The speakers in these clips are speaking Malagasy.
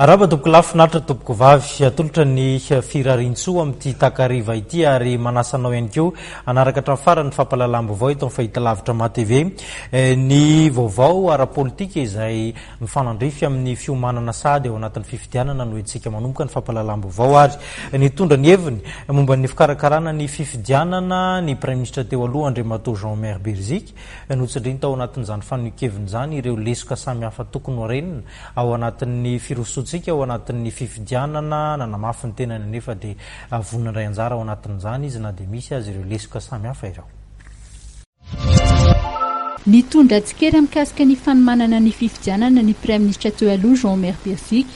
Araba tompokolahy finaritra tompokovavy. Atolotra ny firariantsoa amin'ity takariva ity ary manasa anao ihany koa hanaraka hatramin'ny farany ny fampahalalam-baovao eto amin'ny Fahitalavitra Maha TV. Eh, ny vaovao ara-politika izay mifanandrify amin'ny fiomanana sahady ao anatin'ny fifidianana no entintsika manomboka ny fampahalalam-baovao ary nitondra ny heviny momba ny fikarakarana ny fifidianana ny Praiminisitra teo aloha Andriamatoa Jean Omer Beriziky. Notsindriny tao anatin'izany fanehoan-keviny izany ireo lesoka samihafa tokony ho renina Ao anatin'ny firosoantsika ao anatin'ny fifidianana, nanamafy ny tenany anefa dia vonona handray anjara ao anatin'izany izy na dia misy aza ireo lesoka samihafa ireo. Nitondra tsikera mikasika ny fanomanana ny fifidianana ny Praiminisitra teo aloha Jean Omer Birzic,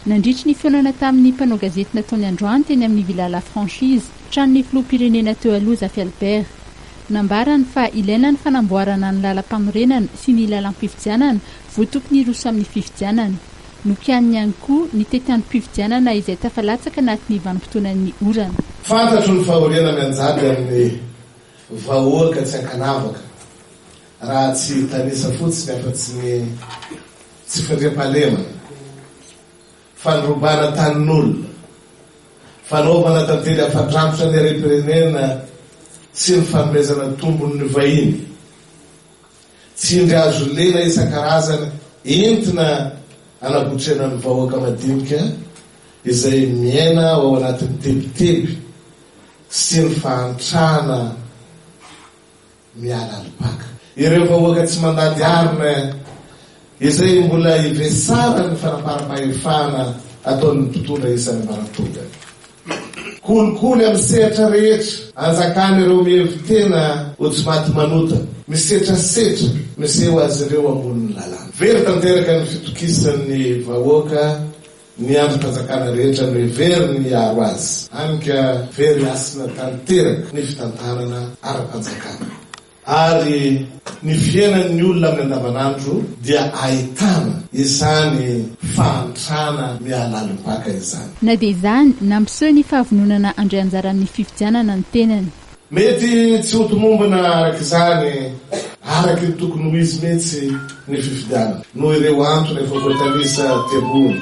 nandritry ny fihaonana tamin'ny mpanao gazety nataony androany teny amin'ny Villa La Franchise, tranon'ny Filoham-pirenena teo aloha Zafy Albert. Nambarany fa ilaina ny fanamboarana ny lalam-panorenana sy ny lalam-pifidianana vao tokony hiroso amin'ny fifidianana. Nokianiny ihany koa ny tetiandrom-pifidianana izay tafalatsaka anatin'ny vanim-potoanan'ny orana. Fantatro ny fahoriana mianjady amin'ny vahoaka tsy ankanavaka raha tsy hitanisa fotsiny afa-tsy ny tsy fandriampahalemana. Fandrobana tanin'olona, fanaovana tantely afa-drafitra ny harem-pirenena sy ny fanomezana tombony ny vahiny. Tsindry azo lena isan-karazany entina anakotrena ny vahoaka madinika izay miaina ao anatin'ny tebiteby sy ny fahantrana. miala ny Pac. Ireo vahoaka tsy mandady arina izay mbola hivesara ny fanaparam-pahefana ataon'ny mpitondra isan'ny maratonga. Kolikoly amin'ny sehatra rehetra anjakan' ireo mihevi-tena ho tsy maty manota, misetrasetra miseho azy ireo ambonin'ny lalàna. Very tanteraka ny fitokisan'ny vahoaka Ny andrim-panjakana rehetra no heveriny hiaro azy, hany ka very hasina tanteraka ny fitantanana ara-panjakana, ary ny fiainan'ny olona amin'ny andavanandro dia ahitana izany fahantrana mihalalim-paka izany. Na dia izany, nampiseho ny fahavononana handray anjara amin'ny fifidianana ny tenany. Mety tsy ho tomombana araka izany araka ny tokony ho izy mihitsy ny fifidianana, noho ireo antony efa voatanisa aty ambony.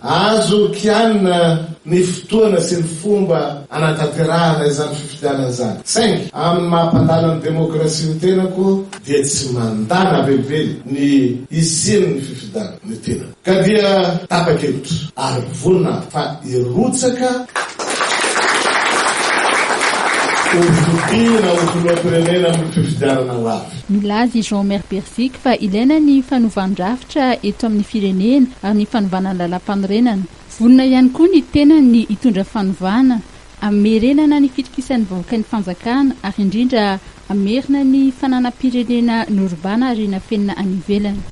Azo kianina ny fotoana sy ny fomba hanatanterahana izany fifidianana izany, saingy amin'ny maha mpandala ny demokrasia ny tenako dia tsy mandana velively ny hisian'ny fifidianana ny tenako. Ka dia tapa-kevitra ary vonona aho fa hirotsaka ho fidiana ho filoham-pirenena amin'ny fifidianana ho avy. Milaza i Jean-Omer Berziky fa ilaina ny fanovan-drafitra eto amin'ny firenena ary ny fanovana ny lalàmpanorenana. Vonona ihany koa ny tenany ny hitondra fanovana, hamerenana ny fitokisan'ny vahoaka ny fanjakana ary indrindra hamerina ny fananam-pirenena norobaina ary nafenina any ivelany.